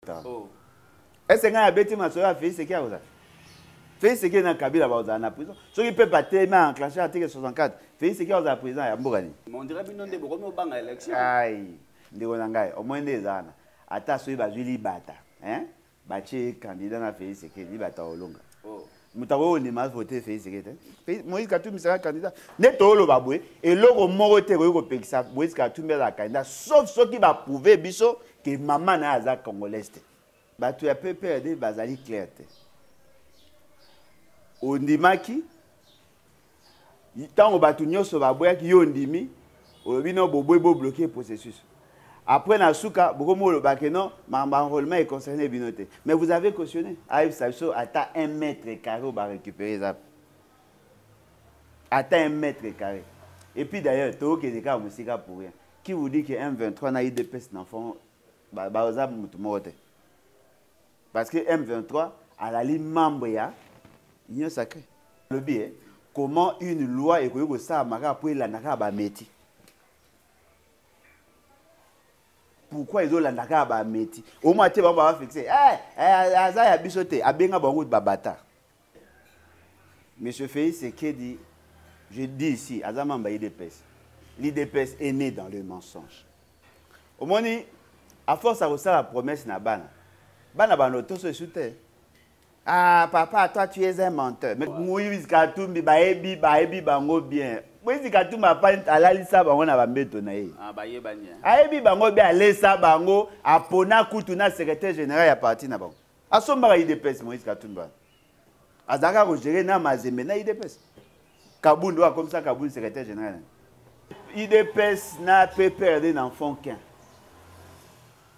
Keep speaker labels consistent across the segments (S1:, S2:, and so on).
S1: oh.
S2: ese ngai abeti masolo ya fei seki akozala fei seki na kabila bakozala na prison soki pepe atelemi a enclenche article 64 fei seki akozala président ya mboka
S1: nini
S2: ndeko na ngai omoi nde eza wana ata soki bazwi libata batye candidat na fei seki libata olonga oh. moto akoki
S1: kondima
S2: avote fei sekete moïse katumbi saka candidat nde tooloba boye eloko moko te ekoki kopekisa moïse katumbi azala candidat sauf soki baprouve biso ke mama na ye aza congolaise te bato ya pprd bazali claire te ondimaki ntango bato nyonso baboyaki yo ondimi olobi no bobwe bobloke processus après na suka bokomi oloba ke non makambo ya enrôlement econcerne bino te mais vous avez cautionné ayebisa biso ata un mètre carré oyo barécupéré eza ata un mètre carré et puis d'ailleurs tokokende kaka mosika pour rien qui vous dit que m23 na idps na fond baza motu moko te parce que m23 alali membre ya union sacré alobi e eh, comment une loi ekoki kosalama kaka mpo elanda kaka bameti pourquoi ezolanda kaka bameti omwa te bango babafixe eh, eh, aza ya biso te abenga bango babata Monsieur Félix Sekedi, je dis ici, Azamamba IDPS. L'IDPS est né dans le mensonge. Au moins, à force à vous la promesse na bana. Bana bano tous se soutient. Ah papa, toi tu es un menteur. Mais Moïse Katumbi baebi baebi bango bien. Moïse Katumbi apani alalisa bango na bambeto na ye. Ah bayebani. Ayebi
S1: bango bien
S2: alesa bango apona kutu na secrétaire général ya parti na bango. asombaka idps moïse katumbi wana azalaka kogere na mazembe na idps kabund oyo akomisa kabund secrétaire général idps na pprd na enfant kin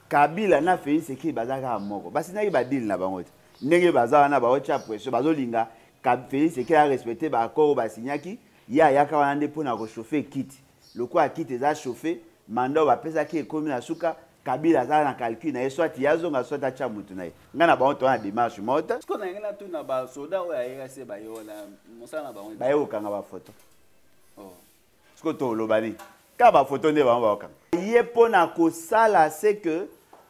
S2: kabila na félix ekili baza kaka moko basinaki badile na bango te ndenge baza wana baotya pression bazolinga félix ekili arespecte baaccord oyo basignaki ye ayaka wana nde mpo na kochauffe ekiti lokola kiti eza chauffe manda oyo bapesaki ekomi na suka kabila aza na calcul na ye soit ye azonga soit atya motu na ye ngai na bango toa na démarche mota siko nalingi natuna
S1: basoda oyo ayeka se baye wana mosala na bango baye kokanga bafoto oh. siko
S2: toloba nini kaka bafoto nde bango bakokanga ye mpo na kosala se que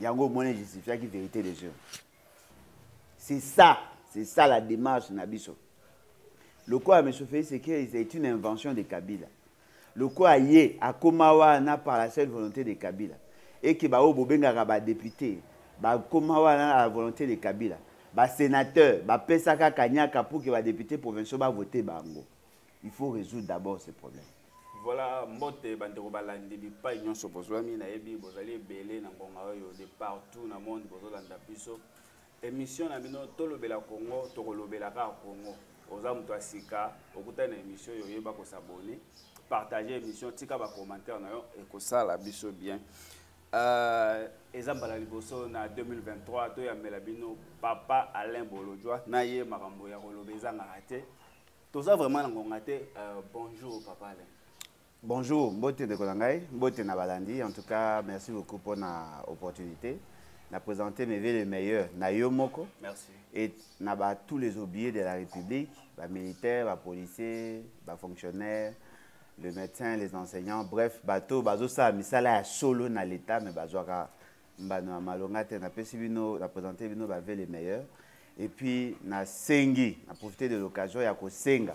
S2: yango omoni justifiaki vérité des urnes c'est ça c'est ça la démarche na biso lokola monsieur félix sekei c'est une invention de kabila lokola ye akoma wana par la seule volonté de kabila eke baoyo bobengaka badepute bakoma wana na la volonté de kabila basénateur bapesa kaka nyaka pour ke badepute provinciaux bavote bango il faut résoudre d'abord ce problème voilà
S1: mbote bandeko balandi bipai nyonso bozwami nayebi bozali ebele na ngonga oyo de partout na monde bozolanda biso émission na bino tolobela congo tokolobela kaka congo oza moto ya sika okutani na émission oyo oyeba kosabone partage émission tika bacommentaire na yo ekosala biso bien euh, eza mbala liboso na 2023 toyambela bino papa alain bolodjwa na ye makambo ya koloba ezangaka te toza vraiment na ngonga te euh, bonjour papa alain bonjour
S2: mbote ndeko na ngai mbote na balandi en tout cas merci beaucoup mpo na opportunité na présenter mes le meilleur na yo moko merci et
S1: na ba
S2: tous les oubliés de la république ba militaires ba policiers ba fonctionnaires le médecin les enseignants bref bato bazosala misala ya solo na l'état mais bazwaka mbano ya malonga te napesi bino na présente bino bave le meilleur et puis nasengi na profite de l'occasion ya kosenga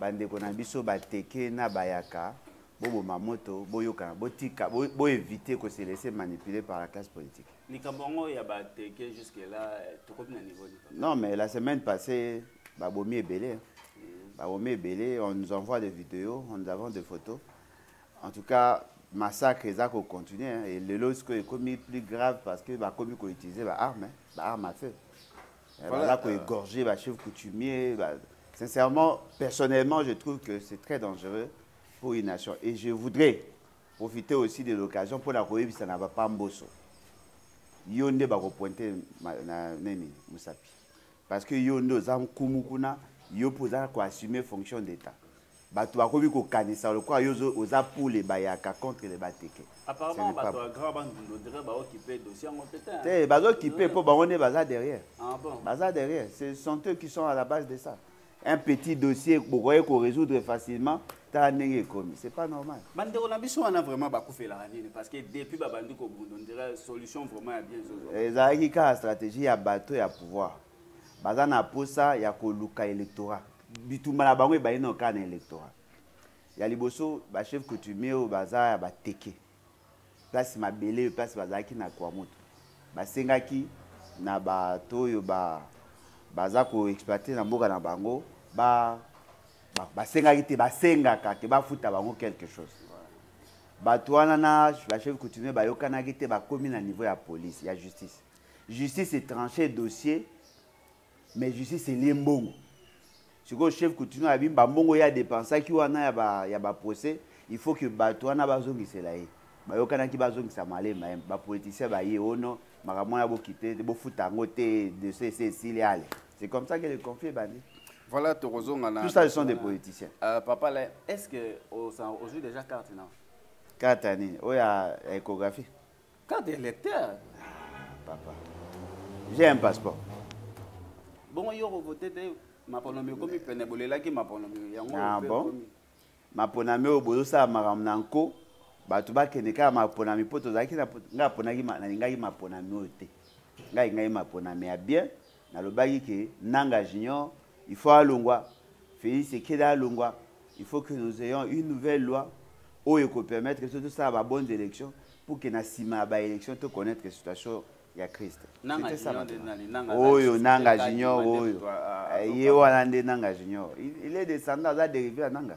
S2: bandeko na biso bateke na bayaka boboma moto boyokana botika boevite bo kose laisse manipuler par la classe politique likambo yango ya
S1: bateke jusque là tokomi na niveau non mais la semaine
S2: passée babomi ebele mm. babomi ebele on nous envoie des vidéos on nous avons des photos En tout cas, massacre eza ko continuer hein. et lelo sikoyo ekomi plus grave parce que bakomi ko utiliser ba armes, hein. ba armes à feu. Eh, voilà, baza ko euh, égorger ba chefs coutumiers. Ba... Sincèrement, personnellement, je trouve que c'est très dangereux pour une nation et je voudrais profiter aussi de l'occasion pour la koyebisa na ba pamboso. Yo nde ba ko pointer na nini musapi. Parce que yo nde oza nkumu kuna, yo poza ko assumer fonction d'état. bato bakomi kokanisa lokola yo oza pule bayaka contre le bateke
S1: te bazokipe mpo
S2: bango nde baza derrière ah baza
S1: derrière ce
S2: sont eux qui sont à la base de ça un petit dossier bokoki korésoudre facilement tala ndenge ekomi c'est pas normal bandeko na biso wana
S1: vraiment bakufelaka nini parce que depuis babandi kobunda ondira solution vraiment ya bien ezalaki kaka stratégie
S2: ya bato ya pouvoir baza na mposa ya koluka électorat bitumba na bango ebandi nao kaka na électorat ya liboso bachef coutumier oyo baza ya bateke place mabele oyo place bazalaki na kwamutu basengaki na bato oyo ba, baza koexploite na mboka na bango ba, ba, basengaki te basengaka ke bafuta bango quelque chose bato wana na bachef coutumier bayokanaki te bakomi na niveau ya police ya justice justice etranche dossier mais justice elie mbongo sikoyo chef coutumier abi bambongo ye adepensaki wana ya ba, ya baprocès il faut que bato wana bazongisela ye bayokanaki bazongisa malema ye bapoliticien baye ono makambo wana bokite te bofuta yango te dossier esi esili ale c'est comme ça que le conflit ebandi voilà tokozonga
S1: na tout ça ce sont des politiciens
S2: euh, papa la
S1: est ce que ozwi déjà carte na carte ya nini
S2: oyo ya échographie Carte
S1: d'électeur ah, Papa,
S2: j'ai un passeport.
S1: Bon, yo revote te maponomi ekomi pene bolelaki maponomi yango ah, bon.
S2: maponami oyo bozosala makambo na nko bato bakende kaka maponami mpo tozalaki ngai aponaki nalingaki maponami oyo te ngai alingaki maponami ya bien nalobaki ke nanga junior il faut alongwa félix ekede alongwa il faut que nous ayons une nouvelle loi oyo ekopermettre biso tosala ba bonnes élections pour que na nsima ya baélection to connaître situation ya christ
S1: oyo
S2: nanga junior oyo ye wana nde nanga junior il est descendant aza dérivé ya nanga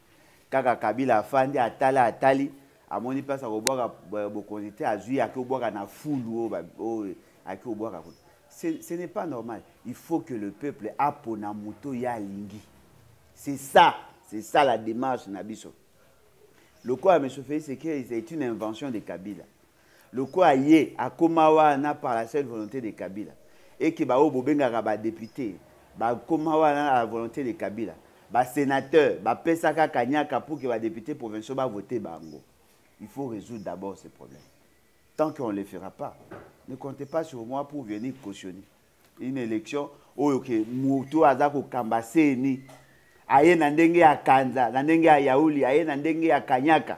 S2: kaka kabila afandi atali atali amoni place akobwaka bokonzi te azwi ake obwaka na fulu oyo oh, oh, ake obwaka kuna ce n'est pas normal il faut que le peuple apona moto ye alingi c'est ça c'est ça la démarche na biso lokola monsieur félix sekei c'est une invention de kabila lokola ye akoma wana par la seule volonté de kabila eke baoyo bobengaka badepute bakoma wana na la volonté de kabila basénateur bapesaka kanyaka pour ke badepute provinciaux bavote bango il faut résoudre d'abord ce problème tant qu'on ne le fera pas ne comptez pas sur moi pour venir cautionner une élection oyo ke moto aza kokamba seni aye na ndenge ya kanza na ndenge ya yauli aye na ndenge ya kanyaka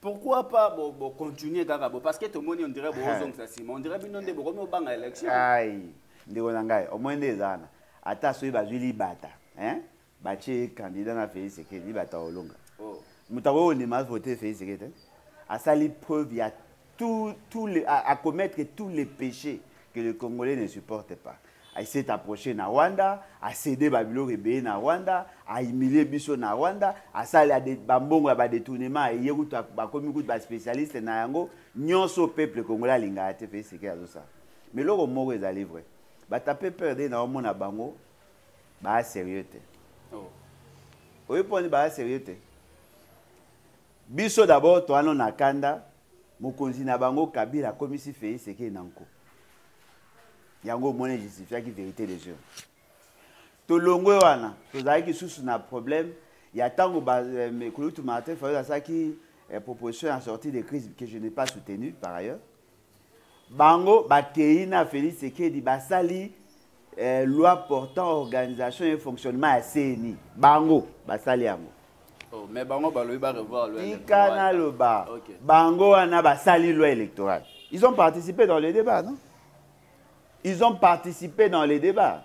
S1: pourquoi pas bo bo continuer kaka bo parce que to moni on dirait bo ozong sa sima on dirait bino nde bo komi obanga election ai
S2: ndeko na ngai au moins nde ezana ata soyi bazui libata hein ba che candidat na Félix Sekedi oh. libata olonga moto akoki kondima vote Félix Sekedi asali preuve ya tout, tout les, à, à commettre tous les péchés que le Congolais ne supporte pas. Il s'est approché na Rwanda, a cédé Babylone et na Rwanda, a humilié Bisso na Rwanda, a sali à des bambongo à détournement, et yé route à commis route à spécialiste na yango, nyonso peuple congolais linga à te faire ce qu'il a ça. Mais l'eau moro est allé vrai. Bah t'as peu peur d'un homme na bango, bah sérieux te. Oh. Oui, pour bah sérieux te. Biso d'abord toa no na kanda mokonzi na bango Kabila akomisi Felix Tshisekedi na nko. Yango omoni justifiaki verite des urnes. Tolongwe wana tozalaki susu na problème ya ntango euh, Kulutu Martin Fayulu asalaki euh, proposition ya sortie de crise que je n'ai pas soutenu par ailleurs. bango bakei na félix sekedi basali eh, loi portant organisation et fonctionnement ya cni bango basali yango oh,
S1: mais bango balobi barevoir loi tika naloba
S2: okay. bango wana basali loi électorale ils ont participé dans le débat non ils ont participé dans le débat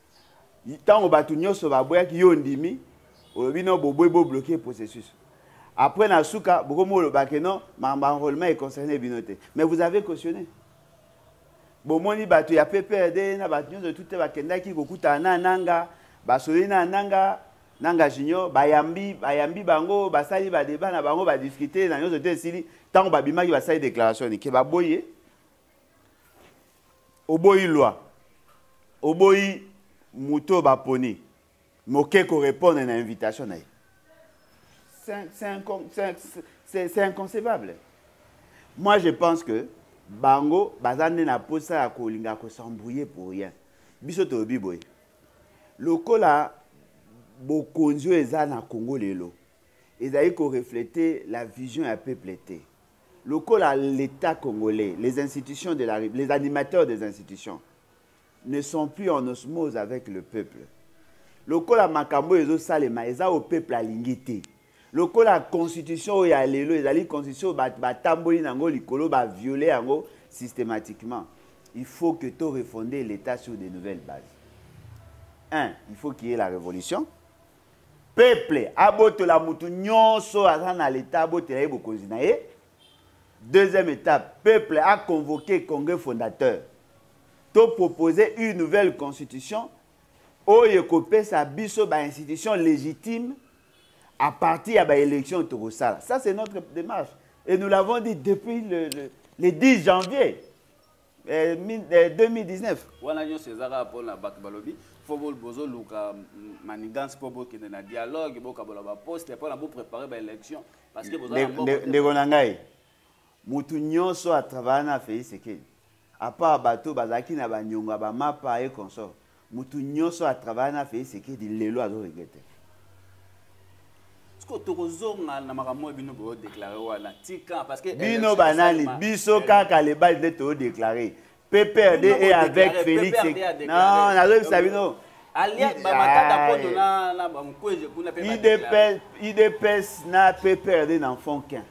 S2: ntango bato nyonso baboyaki yo ondimi olobi no boboyi bobloke processus après na suka bokomi olobake no makambo ya enrôlement econcerne bino te mais vous avez cautionné bomoni bato ya pprd na bato nyonso tute bakendaki kokutana na nanga basololi na nanga nanga junior bayambi bayambi bango basali badeba na bango badiscute na nyonso te esili ntango babimaki basali déclaration nike baboye oboyi lwa oboyi moto oyo baponi moke korepondre na invitation na ye c'est inconcevable moi je pense que bango baza nde na mposa ya kolinga kosembrouille pour rien biso tolobi boye lokola bokonzi oyo eza na congo lelo ezali koreflete la vision ya peuple te Lokola l'etat congolais, les institutions de la Rep, les animateurs des institutions ne sont plus en osmose avec le peuple. Lokola makambo oyo ezosalema eza oyo peuple alingi te. Lokola constitution oyo ya lelo ezali constitution oyo bato batamboli na yango likolo ba violer yango systématiquement. Il faut que to refonder l'État sur de nouvelles bases. Un, il faut qu'il y ait la révolution. peuple abotola mutu nyonso aza na leta abotela ye bokonzi na ye deuxième étape peuple a convoqué congrès fondateur to proposer une nouvelle constitution oyo ekopesa biso bainstitution légitime à partir ya baélection tokosala ça c'est notre démarche et nous l'avons dit depuis le, le, le 10 janvier eh, 2019 eh, wana nyonso eza kaka
S1: mpona bato balobi fo bozoluka manigance mpo bokende na dialogue bokabola baposte mpona boprépare baélection parce que ndeko na ngai
S2: motu nyonso atravaya na félix sekeli apart bato bazalaki na banyongo ya bamapa ye consort mutu nyoso a travailler na Félix Tshisekedi lelo azo regretter
S1: siko tokozonga na makambo oyo bino bodeklare wana tika parce que bino banani
S2: biso eh. kaka lebali nde todeklare pprd e avec félix non nazobisa bino idps na pprd na fond kin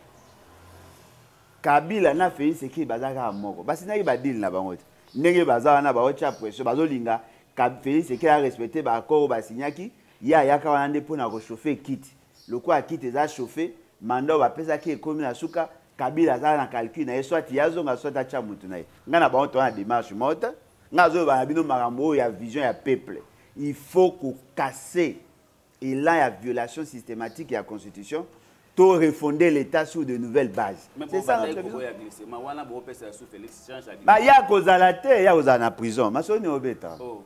S2: kabila na félix eki baza kaka moko basilaki badile na bango te ndenge baza wana baotya pression bazolinga félix eke arespecte baaccord oyo basignaki ye ayaka wana nde mpona kochauffe ekiti lokola kiti eza chauffe manda oyo bapesaki ekomi na suka kabila aza na calcul na ye soit ye azonga soit atya motu na ye ngai na bango toa na démarche mota ngai azoloba na bino makambo oyo ya vision ya peuple il faut kokase elan ya violation systématique ya constitution to refonder l'état sur de nouvelles bases baya kozala te ya kozala na prison masoni obeta oh.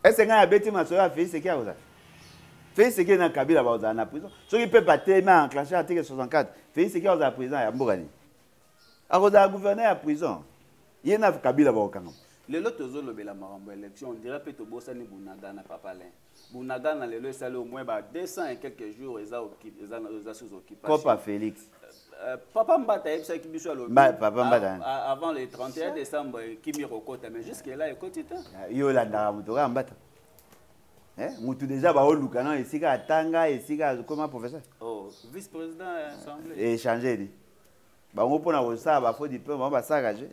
S2: ese ngai abeti masolo ya félix eki akozala félix eki na kabila bakozala na prison soki mpe batemi a enclenche article 64 félix eki akozala président ya mboka nini akozala gouverneur ya prison ye na kabila bakokangama lelo tozolobela
S1: makambo ya élection ondira mpe tobosani bunagana papalin Bunagana lelo esali au moins ba 200 et quelques jours eza occupé eza eza sous occupation. Copa Félix. Euh,
S2: papa
S1: Mbata ayebisaki biso alobi papa Mbata hein.
S2: avant le 31
S1: décembre kimi kokota mais jusque là ekoti te. Ah, yo olandaka
S2: moto kaka Mbata. Eh, mutu deja baoluka na esika atanga esika akoma professeur. Oh, vice
S1: président ya assemblée. Echange eh, ni.
S2: bango mpo na kosala bafo diplome bango basalaka je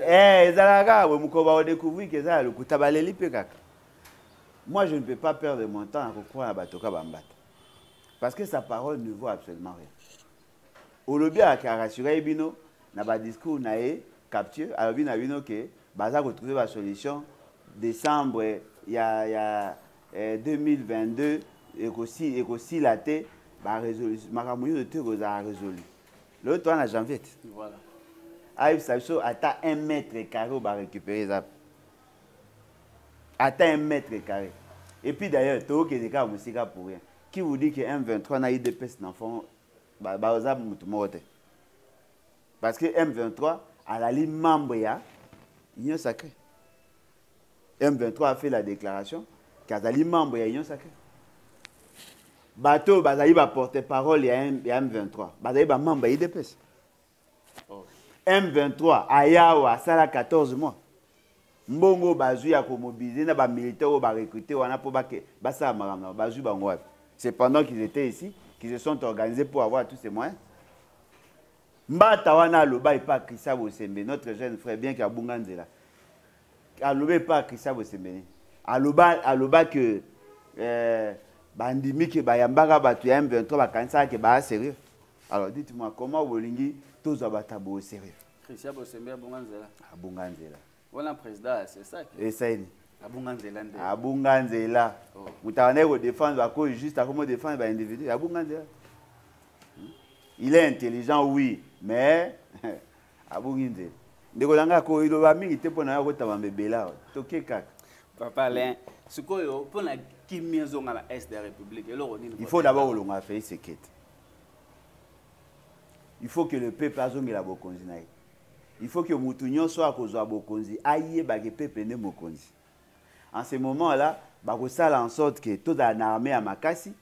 S1: eh, ezalaka kaka
S2: boye mokolo bakodecouvrir ke eza ya lokuta baleli mpe kaka moi je ne peux pas perdre mon temps na kokroa na bato ka bambata parce que sa parole ne vaut absolument rien olobi arassuraki bino na badiscours na ye capture alobi na bino ke baza kotrouve basolution décembre ya, ya, eh, 2022 ekosila eko te makambo nyonso te ekozala résolu lelo toa na janvier te voilà. ayebisa biso ata un mètre carré oyo barécupéré eza ata un mètre carré et puis d'ailleurs tokokende kaka mosika pour rien qui vous dit que m23 na idps na fond baza motu moko te parce que m23 alali membre ya union sacré m23 a fait la déclaration ke azali membre ya union sacré bato oyo bazali baporte parole ya m23 bazali bamembre ya idps m23 ayawa asala 14 mois mbongo oyo bazwi ya komobilize na bamilitaire oyo barecrute wana mpo basala makambo na bazwi bango wapi c'est pendant qu'ils étaient ici qu'ils se sont organisés pour avoir tous ces moyens mbata wana aloba epa krista bosembe notre jeune frère bien ke abunga nzela aloba epa krista bosembe nini aloba aloba ke euh, bandimi ke bayambaka bato ya m23 bakanisaka ke baya sérieux alors dites moi comment bolingi tozwa bato ya boye sérieux Christian Bosembe abunga
S1: nzela. Abunga nzela.
S2: Wana président
S1: c'est ça. Esaini.
S2: Abunga nzela nde.
S1: Abunga nzela.
S2: Oh. Mutana ko défendre ba ko juste à comment défendre ba individu. Abunga nzela. Hmm? Il est intelligent oui, mais abungi nzela. Ndeko nanga ko iloba mingi te pona ko tama mebela. Toke kaka. Papa Alain,
S1: sikoyo pona kimia zonga na est de la République eloko nini? Il faut d'abord
S2: olonga fait sekete. il faut que le peuple azongela bokonzi na ye il faut que mutu nyonso akozwa bokonzi ayeba ke peuple nde mokonzi en ce moment là bakosala en sorte que tozala na armée ya makasi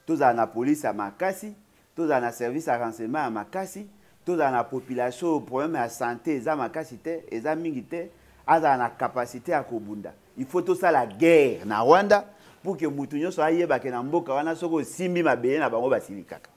S2: tozala na police ya makasi tozala na service ya renseignement ya makasi tozala na population oyo problème ya santé eza makasi te eza mingi te azala na capacité ya kobunda il faut tosala guerre na rwanda pour que mutu nyonso ayebake na mboka wana soki osimbi mabele na bango basilikaka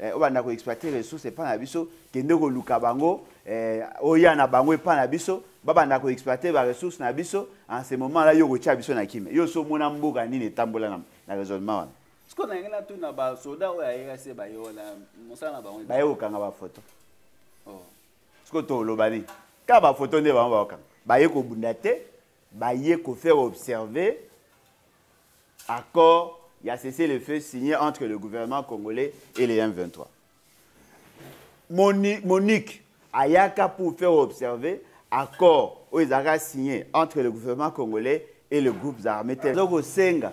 S2: eh, obanda ko exploiter ressource epa na biso kende koluka bango eh, oya na bango epa na biso babanda ko exploiter ba ressource na biso en ce moment là yo kotia biso na kimia yo so mona mboka nini etambola na, na raisonnement wana siko na ngena tu na
S1: ba soda oyo ayeka se ba yo na mosala na bango baye kokanga ba photo oh. siko
S2: toloba nini kaka ba photo nde bango bakokanga baye kobunda te baye kofaire observer Accord ya cessez le feu signé entre le gouvernement congolais et les M23. Moni, Monique ayaka pour faire observer accord oyo ezalaka signé entre le gouvernement congolais et le groupe armé te ezo kosenga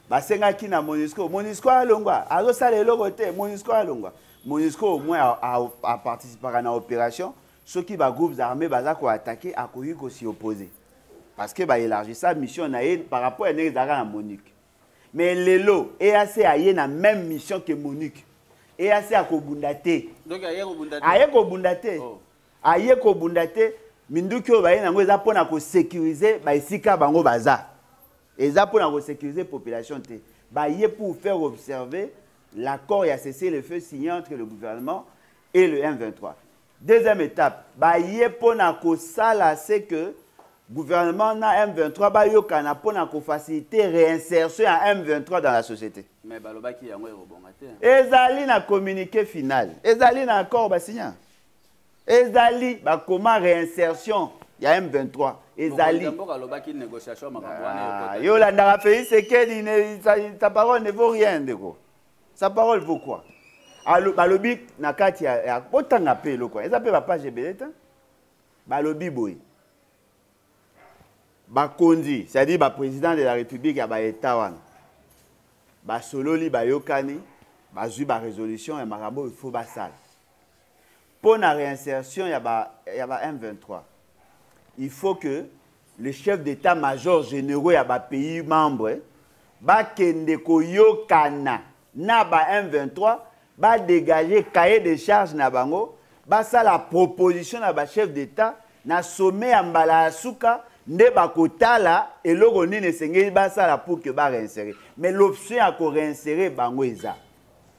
S2: basengaki na monisco monisco alongwa azosala eloko te monisco alongwa monisco au moins aparticipaka na opération soki ba groupes armés baza ko attaquer akoki ko s'y opposer parce que ba élargissa mission na ye par rapport ya ndenge ezalaka na MONUC mais lelo EAC aye na même mission que MONUC EAC akobunda te donc aye kobunda
S1: te aye kobunda te
S2: oh. aye kobunda te minduki oyo baye nango eza mpona kosécurise baesika bango baza eza mpona kosécurise population te baye pour faire observer l'accord ya cessez le feu signé entre le gouvernement et le m23 Deuxième étape, baye pona kosala se que gouvernement na M23 bayokana pona ko faciliter réinsertion ya M23 dans la société. Mais balobaki yango
S1: ekobonga te. Ezali na
S2: communiqué final, ezali na accord basigna. Ezali bakoma réinsertion ya M23 ezali. Mboka alobaki négociation
S1: makambo wana. Ah, yo landaka Félix
S2: Sekedi, ta parole ne vaut rien ndeko. sa parole vaut quoi balobi na kati ya botanga mpe eloko eza mpe bapage ebele te balobi boye bakonzi c'est-à-dire baprésident de la république ya baeta wana basololi bayokani bazwi barésolution ya makambo oyo faut basala mpo na réinsertion ya ba, ya ba M23 il faut que le chef d'état major généraux ya ba pays membres bakende koyokana na ba M23 badégage cahier de charge na bango basala proposition na ba chef d'état na sommet ya mbala ya suka nde bakotala eloko nini esengeli basala pour que bareinsere mais l'option ya koreinsere bango eza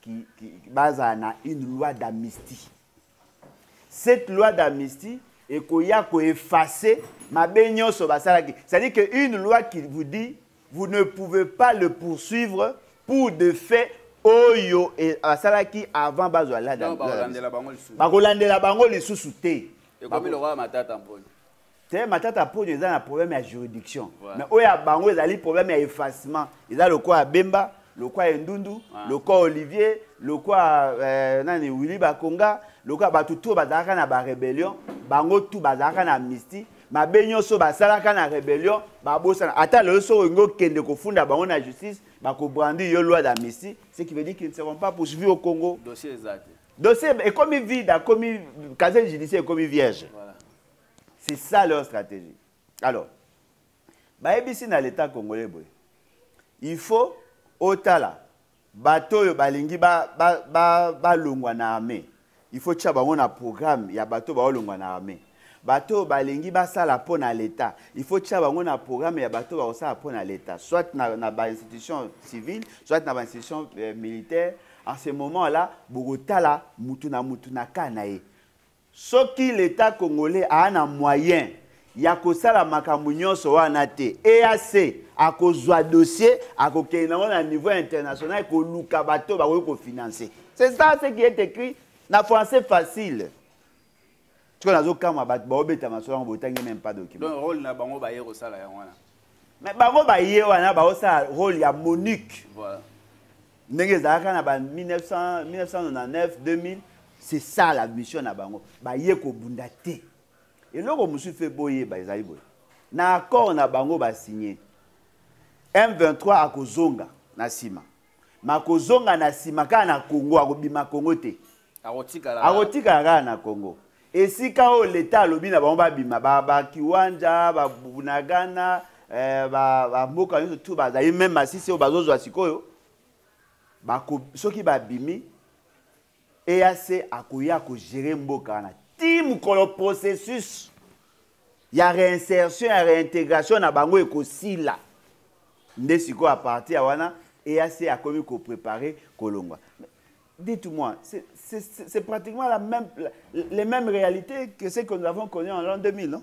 S2: qui, qui, baza na une loi d'amnistie cette loi d'amnistie ekoya koefface mabe nyonso basalaki c'est-à-dire que une loi qui vous dit vous ne pouvez pas le poursuivre pour de faits oyo e, asalaki avant bazwa bakolandela bango lisusu te ekomi lokola
S1: matata mponi te matata
S2: mponyo eza na problème ya juridiction voilà. mais oyo ya bango ezali problème ya effacement eza lokola ya bemba lokola ya endundu ah. lokola olivier lokola euh, nani willi bakonga lokola bato to bazalaka na barébellion bango tu bazalaka na amnistie mabe nyonso basalaka na rébellion babosana ata lelo soki olingi okende kofunda bango na justice bakobrandi yo loi d'amnistie ce qui veut dire qu'ils ne seront pas poursuivis au congo dossier
S1: ekomi
S2: vide akomi casier judiciaire ekomi vierge voilà. c'est ça leur stratégie alors bayebisi na leta congolais boye il faut otala bato oyo balingi balongwa ba, ba, ba, ba na armée il faut tya bango na programme ya bato baolongwa na armée bato oyo balingi basala mpo na leta il faut tya bango na programme ya bato bakosala mpo na leta soit na, na bainstitution civile soit na bainstitution euh, militaire en ce moment là bokotala mutu na mutu na kaa na ye Soki l'etat congolais aa na moyen ya kosala makambo nionso wana te, EAC akozua dossier akokende nango na niveau international koluka bato oyo bakoki ko financer. C'est ça ce qui est ecrit na français facile. Sikoyo nazokamwa bato baobeta masolo yango botangi meme pas document. Donc role na bango baye
S1: kosala yango wana. mais bango
S2: baye wana baosala role ya monique voilà.
S1: ndenge ezalaka na ba 1999 2000
S2: c'est ça la mission na bango baye kobunda te eloko mosusu mpe boyeba ezali boye na accord na bango basigne m23 akozonga na nsima makozonga na nsima kaka na congo akobima congo te akotikala kaka na congo esika oyo leta alobi na bango babima bakiwanja babunagana eh, bamboka nyonso tu bazali meme masisi oyo bazozwa sikoyo soki babimi EAC akoya ko gérer mboka wana ti mokolo processus ya réinsertion ya réintégration na bango ekosila nde sikoyo a partir ya wana EAC akomi ko préparer kolongwa dites-moi, c'est pratiquement la même, les mêmes réalités que celles que nous avons connues en l'an 2000, non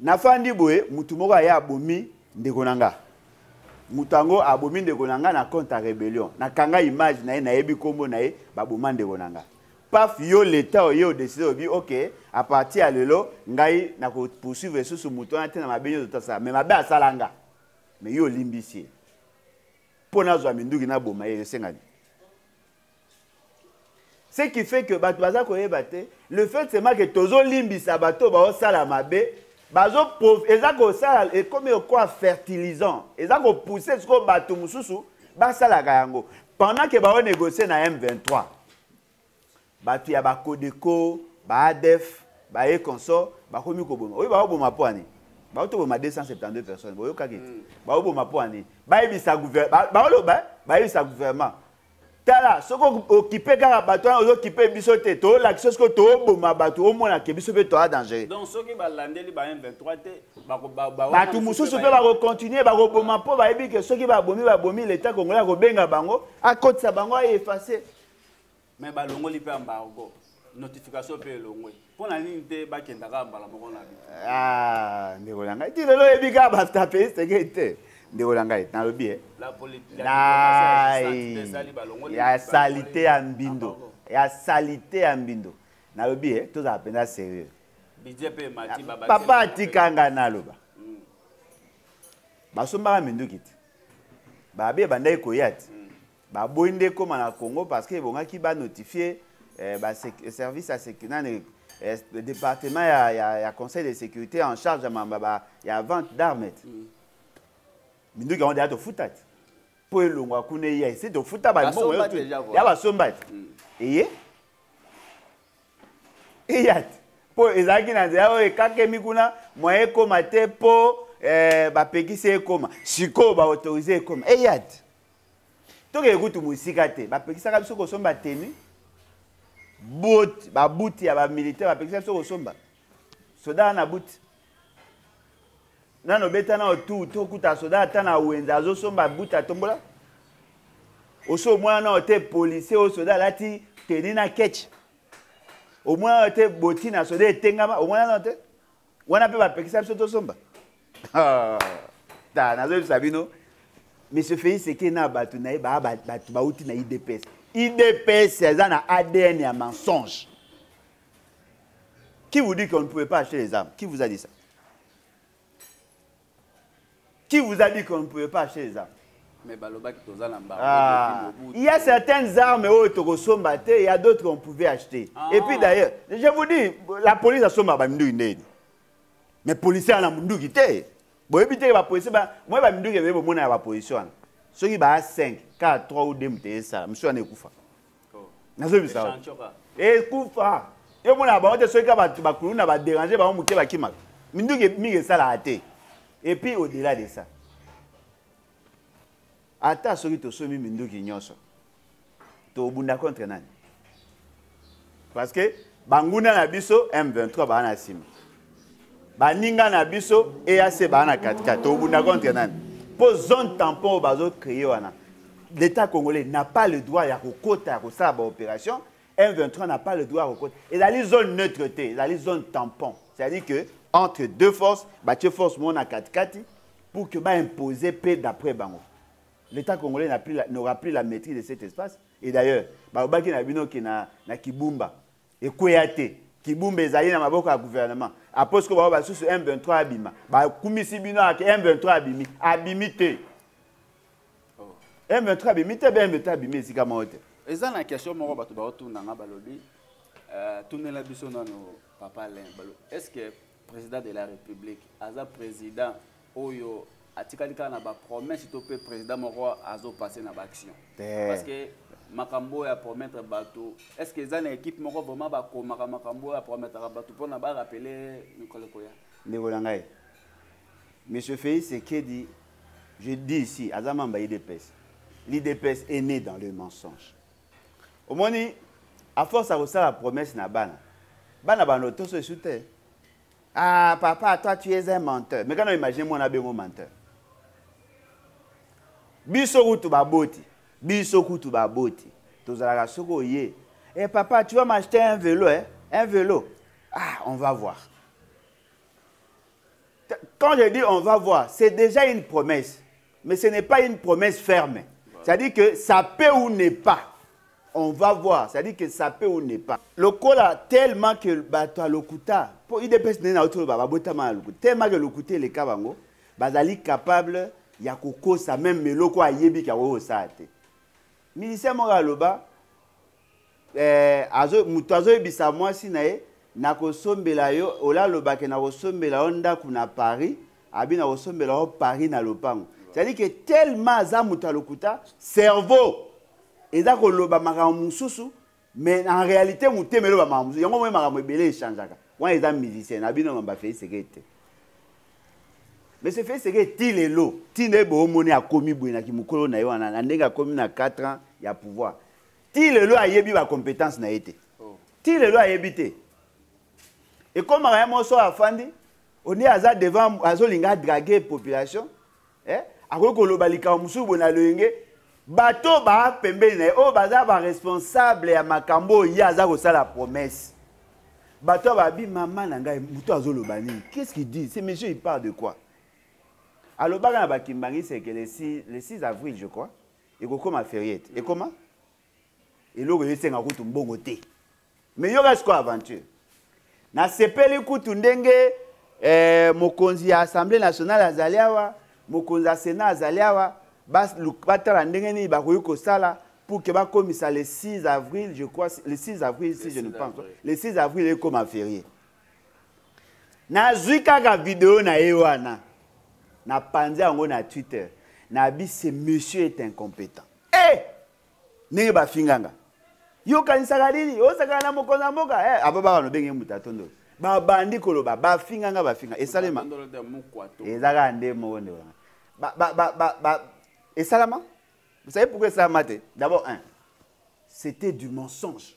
S2: Nafandi boye mutu moko aya abomi ndeko na nga. Mutu yango abomi ndeko na nga na compte ya rebellion. Nakanga image na ye nayebi kombo na ye baboma ndeko na nga. Paf yo l'etat oye odeside obi ok a partir ya lelo ngai na ko poursuivre susu mutu wana te na mabe nyoso tasala mais mabe asala nga. Mais yo olimbisi ye. Mpo nazwa minduki naboma ye esengani. ce qui fait que bato baza koyeba te le fait seulement que tozolimbisa bato baosala mabe bazo eza kosala ekomi okoa fertilisant eza kopousse sikoyo bato mosusu basalaka yango pendant ke baonegocie na m23 bato ya bakodeko baadef baye consort bakomi koboma oyo baoboma mpo ani baotoboma 272 personnes boyokaki te hmm. baoboma mpo ani bayebisa baoloba bayebisa gouvernement tala soki okipe kaka bato wana ozokipe biso te tolakisa soki toboma bato omona ke biso mpe toa danger
S1: bato
S2: mosusu mpe bakokontinue bakoboma mpo bayebi ke soki babomi babomi leta congolais akobenga bango akotisa bango aefase mais
S1: balongoli mpe embargo notification mpe elongwe mpo na nini te bakenda kaka mbala moko na bino ah, ndeko
S2: na ngai ti lelo oyebi kaka batape seke te ndeko na ngai nalobi e ya salite ya mbindo ya salite ya mbindo nalobi e tozala mpenza serieux
S1: papa atika ngai
S2: naloba hmm. basombaka minduki te babe ebandaki koya te hmm. baboyi nde ekóma na congo parce que ebongaki banotifie eh, baservice ya nani eh, département ya, ya, ya conseil de sécurité en charge ya mamba ya vente d'armes mm. minduki yango deya tofuta te mpo elongwa kuna eya esi tofuta bambongo ya basomba te mm. eye eya te mpo ezalaki na nzela oyo ekakemi kuna moyen ekóma te mpo eh, bapekisi ekóma sikoyo baautorise ekóma eya te tokee kutu mosika te bapekisaka biso kosomba tenu babuti ya bamilitaire bapekisa biso kosomba soda na buti nano beta nao tu tokuta soda ata na wenze azosomba buti atombola osi omwana nao te policier oyo soda alati teni na ketch omwana nao te boti na soda etengama omwana nao te wana mpe bapekisa biso tosomba ah, ta nazoyebisa bino monsieur félix eke na bato na ye baa bato bauti na idps idps eza na adn ya mensonge qui vous dit qu'on ne pouvait pas acheter les armes qui vous a dit ça Qui vous a dit qu'on ne pouvait pas acheter les armes mais balobaki
S1: toza na mbango ah.
S2: il y a certaines armes oyo tokosomba te il y a d'autres qu'on pouvait acheter ah. et puis d'ailleurs je vous dis la police asomba baminduki ndeni mais policier ana munduki te boyebi te bapolicier moi baminduki ebeye bomona ya bapolicier wana soki baa 5 4 3 ou 2 moto esala mosusu wana ekufa nazoyebisa ekufa eh, yo mona bango te soki ka bato bakulu na baderange bango moke bakimaka minduki mingi esalaka te epuis au-delà de ça ata soki tosomi minduki nyonso tobunda contre nani parce que banguna na biso m23 baa na nsima baninga na biso eac baa na katikati tobunda contre nani mpo zone tampon oyo bazocreye wana l'état congolais n'a pas le droit ya kokota ya kosala baopération m23 n'a pas le droit ya kokota ezali zone neutre te ezali zone tampon c'est à dire que entre deux forces batie force moko na katikati pour que baimpose mpe d'après bango l'état congolais n'aura plus la maîtrise de cet espace et d'ailleurs balobaki na bino ke na, na kibumba ekweya te kibumba ezali na maboko ya gouvernement apres ko bao basusu m23 abima bakumisi bino ake m23 abimi abimi te m23 abimi te be m23 abimi esika moko te eza na question
S1: moko bato baotuna nga balobi euh, tunela biso nano papa len balo est ce que President de la Republique aza president oyo atikali kaka na bapromesse to mpe président moko azopasse na baaction parce que makambo oyo apromettre bato est ce que eza na équipe moko vraiment bakomaka makambo oyo apromettaka bato mpona barapele mikolo ekoya ndeko na ngai
S2: monsieur félix ekedi je dis ici aza mamba idps l'idps est né dans le mensonge omoni a force ya kosala promesse na bana bana bana otoso esu te ah papa toi tu es un menteur mais kana imagine mwana abengo menteur biso kutu baboti biso kutu baboti tozalaka soki oye eh papa tu vas m'acheter un vélo eh? un vélo ah on va voir quand je dis on va voir c'est déjà une promesse Mais ce n'est pas une promesse ferme. C'est-à-dire que ça peut ou n'est pas. On va voir. C'est-à-dire que ça peut ou n'est pas. Le cola, tellement que bato lokuta, pour IDPS n'est pas autour baba botama lokuta. Tellement que lokuta les kabango, bazali capable ya kokosa même meloko ayebi ka wo saate. Ministère moko aloba eh, azo moto azoyebisa mwasi na ye nakosombela yo ola alobake nakosombela yo ndako na paris abi nakosombela yo paris na lopango cetadi ke tellement aza moto ya lokuta cerveau eza koloba makambo mosusu mais en réalité motema eloba makambo mosusu yango moi makambo ebele echangeaka wana eza musicien na bino mamba feiseke te monsieur feiseke ti lelo ti nde boomoni akomi boye na kimokolo na ye wana na ndenge akomi na 4 ans ya pouvoir ti lelo ayebi ba compétence na ye te oh. ti lelo ayebi te ekomaka ye moso afandi oni aza devant azolinga adrage population eh? akoki koloba likambo mosusu boye na loyenge bato baa pembeni na ye oyo baza baresponsable ya makambo oyo ye aza kosala promesse bato oyo babi mama na ngai moto azoloba nini qu'est ce qu'il dit ce monsieur il parle de quoi alobaka na bakimbangi seke le 6 avril je crois ekokoma feriete mm. ekoma eloko esenga kutu mbongo te me yoka sikoyo aventure nasepeli kutu ndenge eh, mokonzi ya assemblée nationale azali awa mokonzi ya senat azali awa batala ndenge nini bakoki kosala pour que bakomisa le 6 avril je crois le 6 avril si je ne pense le 6 avril ekoma ferie nazwi kaka video na ye wana napanzi yango na twitter nabi ce monsieur est incompétent e eh! hey! ndenge bafinganga yo okanisaka nini osakana na mokonzi ya mboka hey, eh, ababaka nobenge moto atondolo babandi koloba bafinganga bafinga esalema ezaka nde moko nde wana esalama vous savez pourquoi esalama te d'abord un c'était du mensonge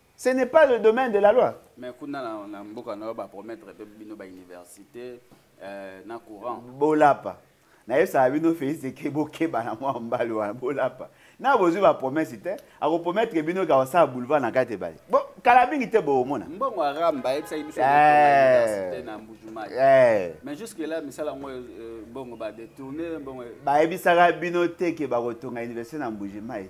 S2: ce n'est pas le domaine de la loi mais kuna na, na
S1: mboka nayo bapromettre mpe bino bauniversité euh, na courant bolapa
S2: nayebisaka bino félix eke bokeba na mwa mbali wana bolapa na bozwi bapromese te akoprometre bino ke akosala boulevard na kati ebale bo kala mingi te bokomona mbongo aramba ayebisaki
S1: biso eh. na mbujumai eh. mais jusque là misala yango euh, mbongo badetourne mbongo bayebisaka
S2: bino te ke bakotonga université na mbujimai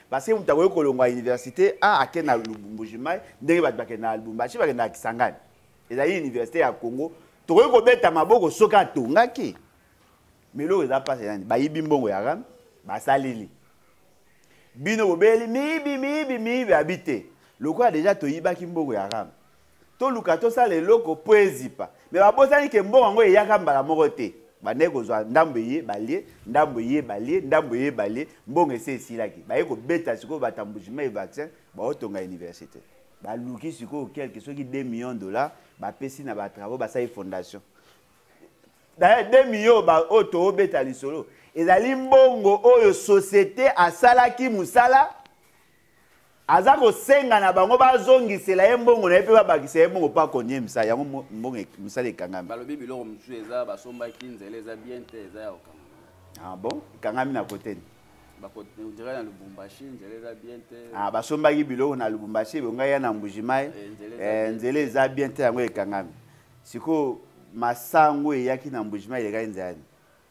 S2: parce que moto akoki kolongwa université a ake na lubumbujimayi ndenge bato bakende na lubumbashi bakende na kisangani ezali université ya congo tokoki kobeta maboko soki atongaki me eloko eza mpasi nani bayibi mbongo ya rame basaleli bino bobeli miyibi miyibi miyibi abi te lokola deja toyibaki mbongo ya rame toluka tosala eloko mpo ezipa me babosani ke mbongo yango eyaka mbala moko te bandaki kozwa ndambo eye balie ndambo eye balie ndambo eye balie mbongo esi esilaki baye kobeta sikoyo batambujima e vaccin baotonga université baluki sikoyo quelque soki 2 millions dollar bapesi na batravaux basali fondation d'ailleurs 2 millions oyo toobeta lisolo ezali mbongo oyo société asalaki mosala aza kosenga na bango bazongisela ye mbongo na ye mpe babakisa ye mbongo mpo akonye misa yango mbongo e-, misala ekangami balobi biloko mosusu eza
S1: basombaki nzela eza bien te eza ya kokangama ah bon ekangami
S2: na koteni bakotendira
S1: na lubumbashi nzela eza bien te ah basombaki biloko
S2: na lubumbashi ebongai ya na mbujimai eh, nzela eh, eza bien te yango ekangami sikoyo masango eyaki na mbujimai elekaki nzela nini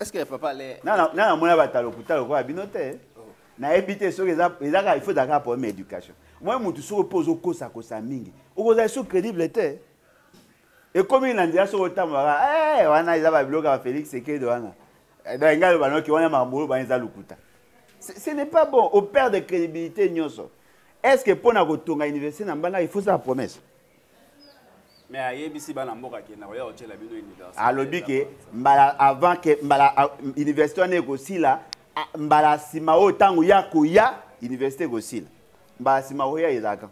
S1: Est-ce que papa le Non non non mona batalo
S2: kutalo kwa bino te. Oh. Na ebite soki eza eza ka il faut daka problème éducation. Moi mutu soko pozo kosa kosa mingi. Okoza so crédible te. Ekomi na ndia soko tambola. Eh wana eza ba biloka Félix Sekedo wana. Eh, Donc ngalo banoki wana mambolo ba eza lukuta. Ce n'est pas bon. Au perd de crédibilité nyoso. Est-ce que pona kotonga université na mbanga il faut ça promesse?
S1: mais ayebisi bana mboka akenda koya kotyela bino université alobi ke
S2: mbala avant ke mbala université wana ekosila mbala nsima oyo ntango ya koya université ekosila mbala nsima koya ezalaka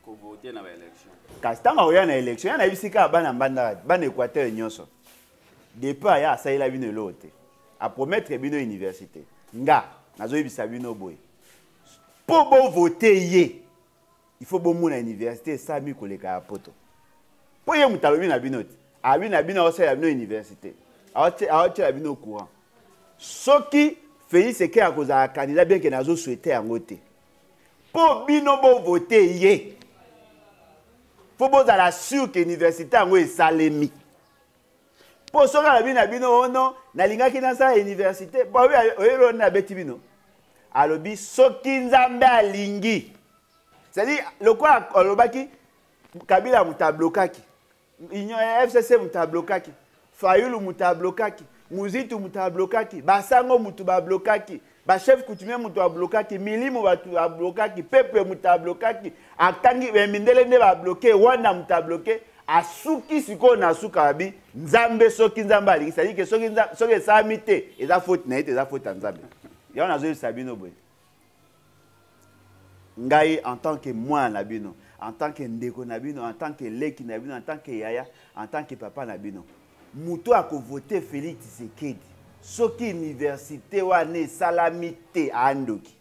S2: kovote
S1: na baélection kasi ntango akoya na
S2: élection ya nayebisi kaka bana mbandaka bana équateur nyonso depuis aya asalela bino eloko te apromettre bino université nga nazoyebisa bino boye mpo bovote ye il faut bomona université esalami koleka ya poto mpo ye moto alobi na bino te alobi na bino aosalela bino université aotyela bino courant soki félix eke akozala candidat bien ke nazoswete yango te mpo bino bovote ye mpo bozala sur ke université yango esalemi mpo soki alobi na bino ono oh nalingaki nasala université mpo oyeli oni abeti bino alobi soki nzambe alingi cestadire lokola alobaki kabila moto ablokaki union ya fcc moto ablokaki fayulu moto ablokaki muzitu moto ablokaki basango moto bablokaki ba chef coutumier moto ablokaki milimo bato ablokaki peuple moto ablokaki akangi eh, mindele nde babloke rwanda moto abloke asuki sikoyo na suka babi nzambe soki nzambe alingi sadi ke soki, soki esalami te eza foti na ye te eza foti ya nzambe yango nazoyebisa bino boye ngai en tant que mwana na bino en tant que ndeko na bino en tant que leki na bino en tant que yaya en tant que papa na bino moto akovote félix tshisekedi soki université wana esalami te andoki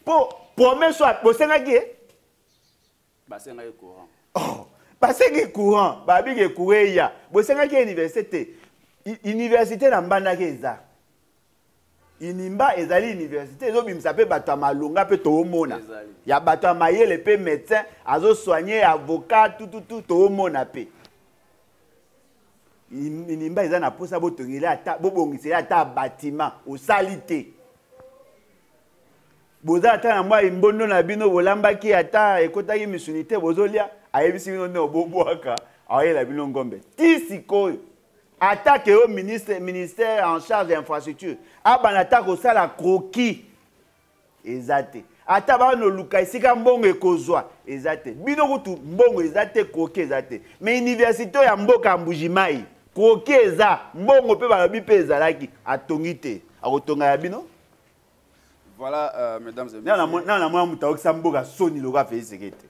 S2: mpo promese oyo bosengaki ye
S1: basengaki courant oh
S2: basengi courant babiki ekoura eya bosengaki université te université na mbandaki eza inimba ezali université ezobimisa mpe bato ya malonga mpe toomona ya bato ya mayele mpe médecin azosoigne avocat tututu toomona mpe inimba eza na mposa botongeli ata bobongiseli ata batima osali te boza ata na mwa imbondo na bino bolambaki ata ekotaki misuni te bozolia ayebisi bino nde obobwaka ayela bino ngombe ti sikoyo ata ke yo ministre ministère en charge ya infrastructure abanda ata kosala kroki eza te ata bana oluka esika mbongo ekozwa eza te bino kutu mbongo eza te kroki eza te mais université ya mboka ya mbujimai kroki eza mbongo mpe balobi mpe ezalaki atongi te akotonga ya bino Voilà,
S1: euh, mesdames et messieurs. Nana mwa mutaokisa mboka
S2: soni loka fe isekete.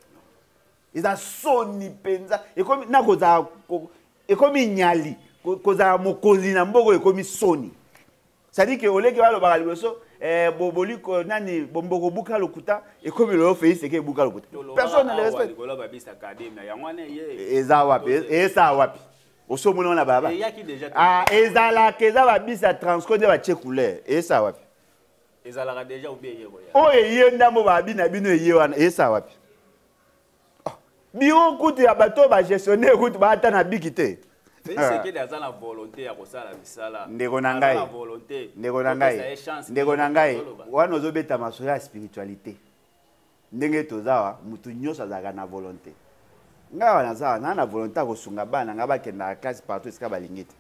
S2: Eza soni penza. Ekomi nako za ekomi nyali kozala mokonzi na mboka oyo ekomi soni cestadire ke oleki balobaka liboso eh, boboli nani bomboko buka lokuta ekomi loyo fei seke ebuka lokuta personne ne respecte
S1: eza wapi
S2: esa wapi oso omona wana baba ah,
S1: ezalaka
S2: eza babisi ya transco nde batye couleur esa wapi ezalaka
S1: deja obi eye koya oyo oh, eye ndambo
S2: babi na bino eye wana esa wapi oh, biro kutu ya bato oyo bagestionnaire kutu baata na biki te sekedi aza
S1: na volonté ya kosala misala ndeko na ngai
S2: ndeko na ngai ndeko na ngai wana ozobeta masolo ya spiritualité ndenge toza awa moto nyonso azalaka na volonté ngai awa naza awa naa na volonté ya kosunga bana na ngai bakendaka classe partout esika balingi te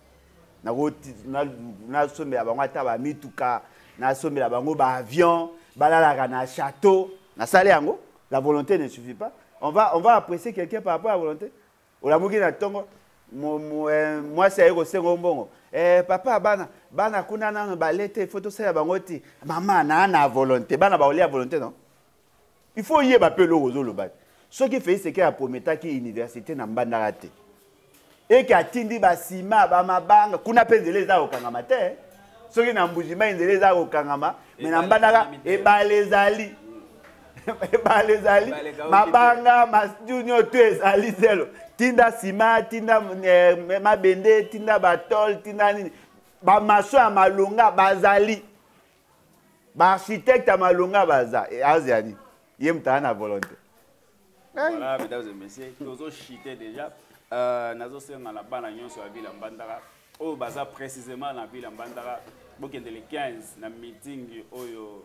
S2: nasombela bango ata bamituka nasombela bango baavion balalaka na chateau nasala yango la volonté ne suffit pas on va, on va apprécier quelqu'un par rapport à la volonté olamuki na ntongo eh, mwasi aye kosenga yo mbongo eh, papa bana bana kuna nano bale te ifo tosala bango ti mama naa na volonté bana baolia volonté non il faut oyeba mpe eloko ozoloba te soki felix eke aprometaki université na mbandaka te eke atindi basima bamabanga kuna mpe nzela eza kokangama te eh. soki na mbujimai nzela eza kokangama me na mbandaka ebale ezali ebale ezali mabanga masdu nyoto ezali zelo tinda sima tinda eh, mabende tinda batole tinda nini bamaso ya malonga bazali baarchitecte ya malonga baza eh, azya nini ye moto aza na volonté voilà
S1: mesdames et messieurs tozochite déjà euh, nazosenga na bana nyonso ya vile mbandaka oyo baza précisément na vile mbandaka bokende le 15 na meeting oyo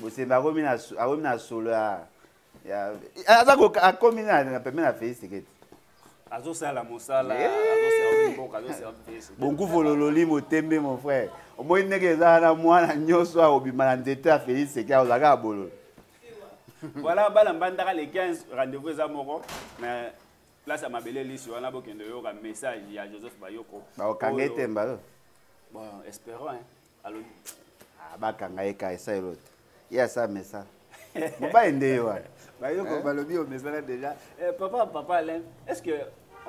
S2: bosembe akomi na akomi na solo ya ya aza ko akomi na na pembe na Felix Tshisekedi azosala
S1: mosala azoservi mboka azoservi Felix bonkufu lololi
S2: motembe mon frère omoni ndenge eza wana mwana nyonso akobima na nzete ya Felix Tshisekedi akozala kaka bololo
S1: voilà bana mbandaka le 15 rendez-vous eza moko na place ya mabele lisi wana bokende oyoka message ya joseph bayoko bakokanga etemba
S2: bon
S1: espérant hein Ah, bakanga
S2: ye ka esaelo te ye asa mesana mobali nde ye wana bayoko balobi
S1: omesana déjà eh, papa papa alain est ce que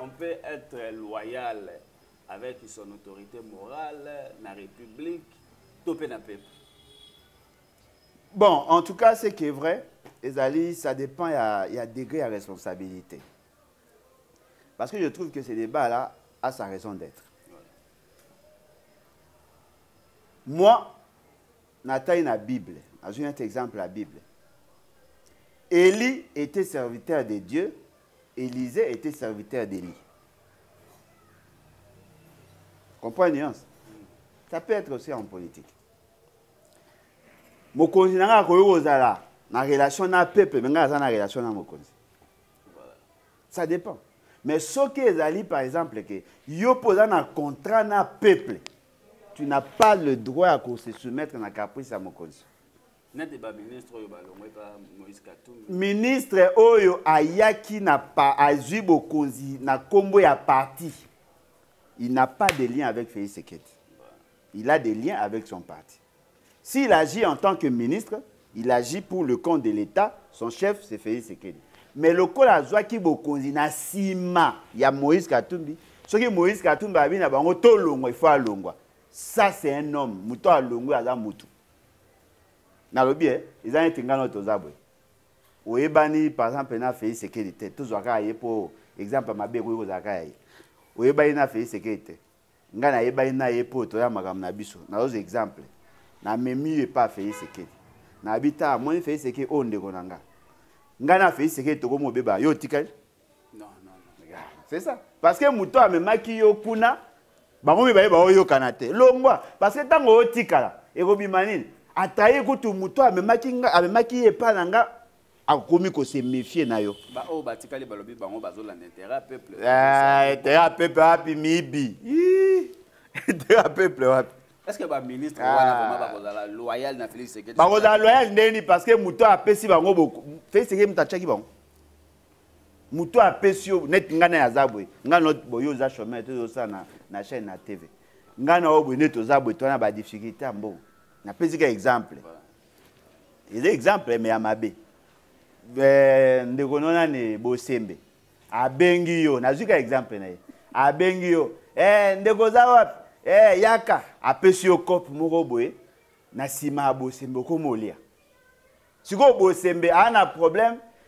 S1: on peut être loyal avec son autorité morale na république to mpe na peuple
S2: bon en tout cas ce qui est vrai ezali ça dépend ya, ya degré ya responsabilité parce que je trouve que ce débat là a sa raison d'être moi natali na bible nazwi neti exemple ya bible eli était serviteur de dieu élisée était serviteur d'eli comprends nuance ça peut être aussi en politique mokonzi na ngai akoki kozala na relation na peuple me ngai aza na relation na mokonzi ça dépend mais soki ezali par exemple que yo mpo oza na contrat na peuple tu n'as pas le droit ya ko se soumettre na caprice ya mokonzi nete baministre oyo balongwe pa moïse katumbi ministre oyo ayaki na pa azwi bokonzi na nkombo ya parti il n'a pas de lien avec félix sekedi il a des liens avec son parti S'il agit en tant que ministre, il agit pour le compte de l'État, son chef c'est Félix Sekedi. Mais lokola azwaki bokonzi na nsima ya Moïse Katumbi, soki Moïse Katumbi abi na bango tolongwa, il faut alongwa. Ça c'est un homme, moto alongwe aza mutu. Nalobi eh, eza neti ngano toza boye. Oyebani par exemple na Félix Sekedi te, tozwa kaka ye po exemple mabe ekoki kozala kaka ye. Oyebani na Félix Sekedi te. ngai nayebani na ye mpo toya makambo na biso nazozwa exemple namemi yo epa fei sekedi nayebi ta amoni fei sekedi oyo ndeko na ngai ngai na fei sekedi tokomi obeba yo otikali c'est ça parce que moto amemaki yo kuna bango mibale baoyokana te longwa parce que ntango otikala ekobima nini atraye kutu moto amemaki ye epa na ngai akomi ko se méfier na yo ba oyo batikali balobi
S1: bango bazolanda intérêt ya peuple eh, intérêt ya
S2: peuple wapi miyibi intérêt ya peuple wapi est-ce que ba ministre
S1: ah. wana vraiment bakozala loyal na Félix Tshisekedi bakozala loyal ndeni
S2: parce que moto apesi bango boko Félix Tshisekedi moto atiaki bango moto apesi yo neti ngai na yaza boye ngai na boye oza chemin te ozosala na, na chaîne na tv ngai na yo boye neti oza boye to wana badifficulté ya mbongo napesi ka exemple eza exemple me ya mabe eh, ndeko no nani bosembe abengi yo nazwi ka exemple na ye abengi yo eh, ndeko oza wapi eh, yaka apesi yo cope moko boye na nsima ya bosembe okomi olia sikoyo bosembe aa na problème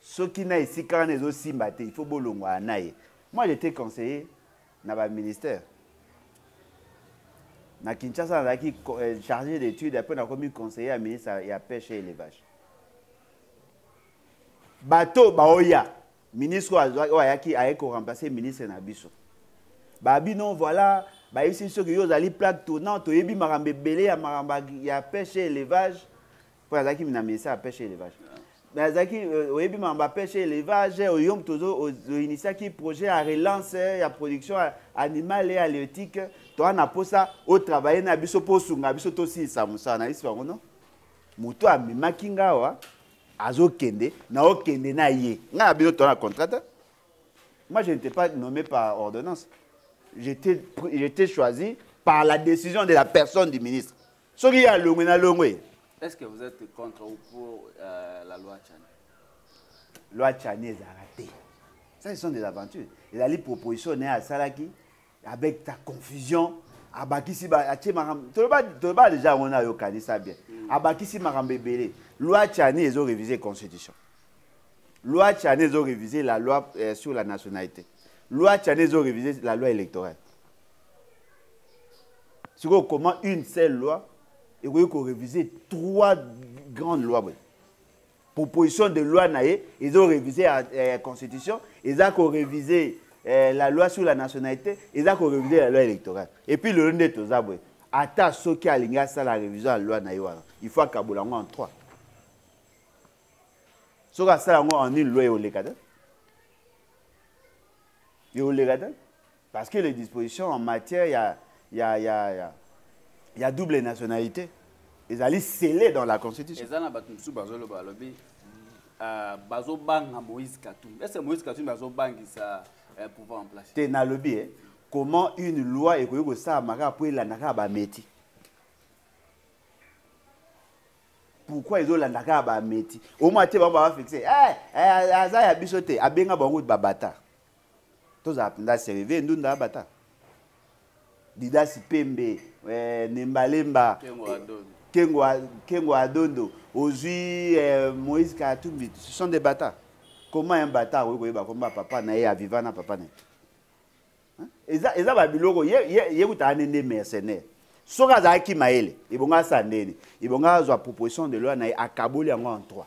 S2: soki na esika wana ezosimba te il faut bolongwa na ye moi j'étais conseiller na baministère na kinshasa nazalaki euh, chargé d'étude apres nakomi conseiller ya ministre ya pêche et élevage bato baoya ministre oyo ayaki ayaki koremplace ministre na biso babi non voilà bayebisi biso ke yo ozali plaque tournant toyebi makambo ebele ya makambo ya pêche et élevage mpo azalaki na ministère ya pêche élevage mais azalaki euh, oyebi mama bapeshe élevage oyo moto oinitiaki projet ya relance ya production animale ya léotique toa na mposa otravaille na biso mpo osunga biso tosilisa mosala na yisi bango no moto amemaki nga awa azokende na okende na ye ngai na bino toa na contrat moi je n'étais pas nommé par ordonnance j'étais choisi par la décision de la personne du ministre soki ye alongwe na longwe est ce que vous êtes
S1: contre ou pour euh, la loi chani
S2: loi chani ezalaka te ça ce sont des aventures ezali proposition naye asalaki avec ta confusion abakisi atie makambo toloba deja yango na yokanisa bien mm. abakisi makambo ebele loi chani ezo réviser constitution loi chani ezo réviser la loi euh, sur la nationalité loi chani ezo réviser la loi électorale sikoyo comment une seule loi ekoki korévise trois grandes lois boye proposition de loi na ye ezo révise ya eh, constitution eza korévise eh, la loi sur la nationalité eza korévise la loi électorale epuis lelo nde toza boye ata soki alingi asala révision ya loi na ye wana il faut akabola yango en trois soki asala yango en une loi eoleka te eoleka te Parce que les dispositions en matière ya, ya, ya, ya, ya double nationalité ezali scellé dans la constitution. Eza na bato mosusu bazoloba
S1: balobi euh, bazobanga Moïse Katumbi. Est-ce que Moïse Katumbi azobangisa euh, pouvoir en place? Te nalobi eh, comment
S2: une loi ekoki kosalama kaka mpo elanda kaka bameti pourquoi ezolanda kaka bameti omwa te bango babafixe eh, eh, aza ya biso te abenga bango babata tozala mpenza serie ve ndunda abata didasi pembe eh, nembalemba kengo adondo ozwi eh, moïse katumbi ce sont des bata comment un bata akoki koyeba komba papa na ye aviva na papa na ye eza, eza babiloko ye, ye, ye kutaka nde nde mercenaire soki azalaki mayele ebonga asala ndeni ebonga azwa proposition de loi na ye akaboli yango en trois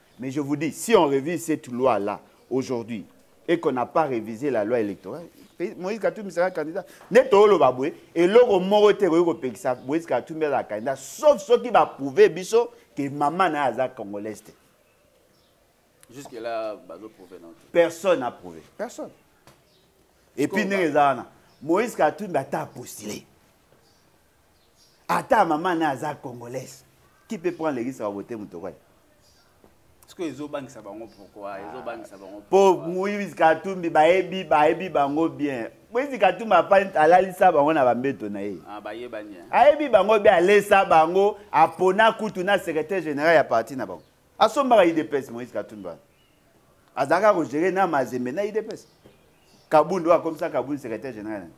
S2: Mais je vous dis, si on révise cette loi-là aujourd'hui et qu'on n'a pas révisé la loi électorale, Moïse Katumbi sera candidat. Neto oloba boye, et loko moko te koyoko pekisa Moïse Katumbi azala candidat, sauf ceux qui va prouver biso que maman na aza congolaise te. Jusque
S1: là, bazo prouver non. Personne n'a prouvé.
S2: Personne. Et puis ndenge eza wana, Moïse Katumbi ata a postulé. ata mama na aza congolaise qui peut prendre l'église à voter mutokwa
S1: sikoyo ezobangisa bango pourkoi ah. ezobangisa bango po moïse
S2: katumbi bayebi bayebi bango bien moïse katumbi apani alalisa bango na bambeto na ye ah,
S1: ayebi bango bien
S2: alesa bango apona kutu na secrétaire général ya parti na bango asombaka idps moïse katumbi wana azalaka kogere na mazembe na idps kabundu oyo akomisa kabundu secrétaire général yango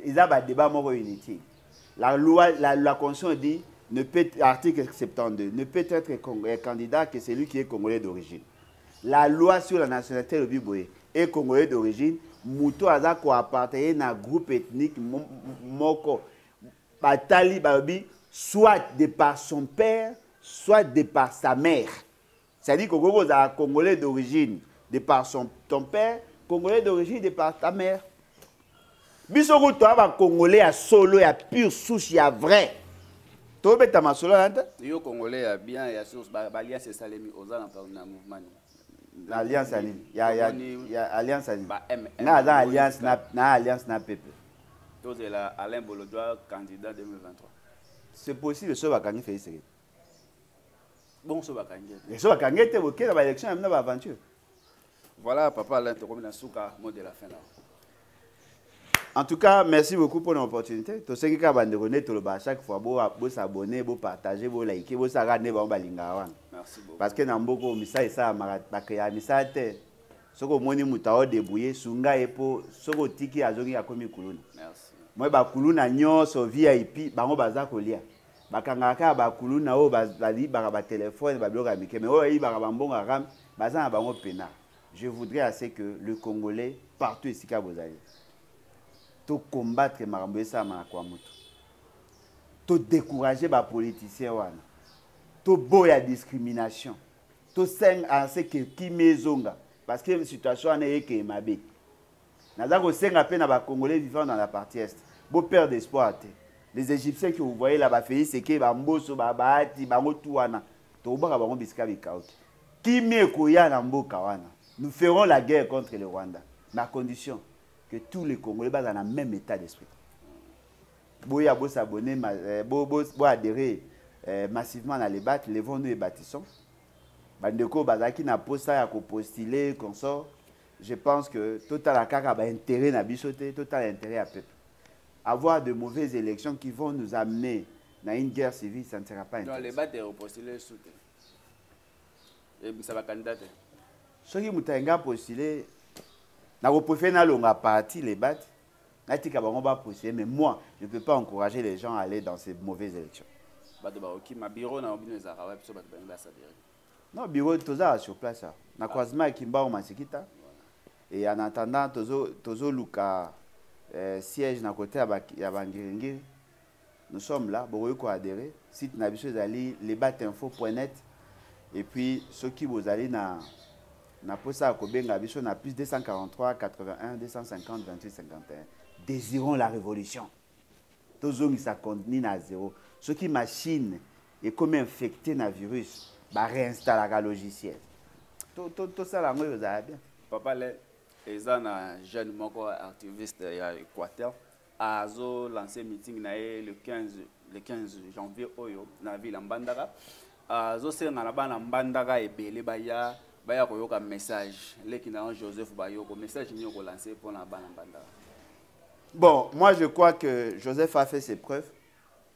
S2: eza badébat moko inutile la loi la, la constitution dit ne peut, article 72 ne peut être euh, candidat que celui qui est congolais d'origine la loi sur la nationalité elobi boye e congolais d'origine moto aza koappartenir na groupe ethnique moko batali balobi soit de par son père soit de par sa mère c'est-à-dire kokoki kozala congolais d'origine de par son, ton père congolais d'origine de par ta mère biso kutu toya bacongolais ya solo ya pure souche ya vrai tobeta masolo na te yo congolais ya
S1: bien ya source baliance esalemi oza na mouvement nini na alliance
S2: ya nini ya ya ya alliance ya nini nga aza alliance na na alliance na pepe tozela
S1: Alain Bolodwa candidat 2023 c'est possible
S2: soki bakangi Félix Tshisekedi
S1: bon soki bakangi ye soki bakangi ye te
S2: bokenda ba élection ya bino ba aventure voilà
S1: papa Alain tokomi na suka mot de la fin là
S2: En tout cas, merci beaucoup pour l'opportunité. Tout ce qui est capable de connaître le bas chaque fois, vous vous abonnez, vous partagez, vous likez, vous regardez, vous balingawan. Merci beaucoup. Parce que
S1: dans beaucoup de messages,
S2: ça m'a créé un message. Ce que moi, je me suis débrouillé, sunga et pour ce que tiki a zongi a commis kuluna. Merci. Moi, ba
S1: kuluna
S2: nyonso VIP, bango baza kolia. bakangaka kaka bakuluna oyo bayibaka batelefone babiloko ya mike mai oyo bayibaka bambongo ya ram baza na bango mpena Je voudrais à ce que le Congolais partout esika bozali to combattre makambo esalama na kwa moto to décourager ba politiciens wana to boya discrimination to seng à ce que kimia ezonga parce que situation wana eyekeye mabe naza kosenga mpe na bacongolais vivant dans la partie est boperde espoir te les égyptiens que vous voyez là bafeyi seke bamboso babaati bango tu wana tokobaka bango bisika bikauki Kimia ekoya na mboka wana. Nous ferons la guerre contre le Rwanda, mais à condition que tous les Congolais bazala na même état d'esprit. Boya bo s'abonner, euh, bo bo bo adhérer euh, massivement na les battes, levons nous et bâtissons. Bandeko bazaki na posa ya ko postuler consort. Je pense que total la kaka ba intérêt na biso te, total intérêt à peuple. Avoir de mauvaises élections qui vont nous amener dans une guerre civile, ça ne sera pas intéressant. Non, les battes est postulé
S1: sous ebimisa bakandidat te soki moto
S2: alingi apostule nakoprefere nalonga parti lebate natika bango bapostule mais moi je peux pas encourager les gens à aller dans ces mauvaises élections bato bakokima
S1: biro na bino ezalaka wapi so bato balingi basadere non biro
S2: tozala sur place awa na croisement ya kimbango masikita et en attendant tozoluka tozo eh, siège na kote ya bangiringiri Nous sommes là, bokoki ko adhérer. Site na biso ezali lebatinfo.net et puis soki bozali na na posa ya kobenga biso na plus 243 81 250 28 51 désirons la révolution tozongisa contenu na zéro soki machine ekomi infecté na virus baréinstallaka logiciel tosala yango oyo ozala bien papa le
S1: eza na jeune moko activiste ya équateur azo lancer meeting na ye le 15 le 15 janvier oyo na ville ya mbandaka azosenga na bana mbandaka ebele baya baya koyoka message leki na yo joseph bayoko message nini okolanse mpo na bana mbandaka bon
S2: moi je crois que joseph a fait ses preuves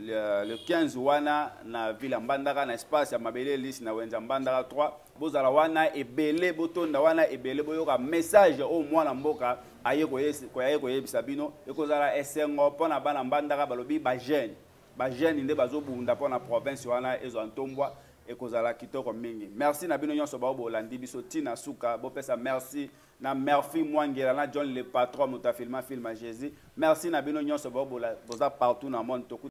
S2: le, le 15 wana na villa mbandaka na espace ya mabele lisi na wenza mbandaka 3 bozala wana ebele botonda wana ebele boyoka message oyo mwana mboka aye koyaye koyebisa bino ekozala esengo mpo na bana mbandaka balobi bajeune bajeune nde bazobunda mpo na province wana ezwa ntombwa ekozala kitoko mingi merci na bino nyonso bao bolandi biso ntina suka bopesa merci na merci mwangela na john le patron moto afilma filma jésus merci na bino nyonso bao boza partout na monde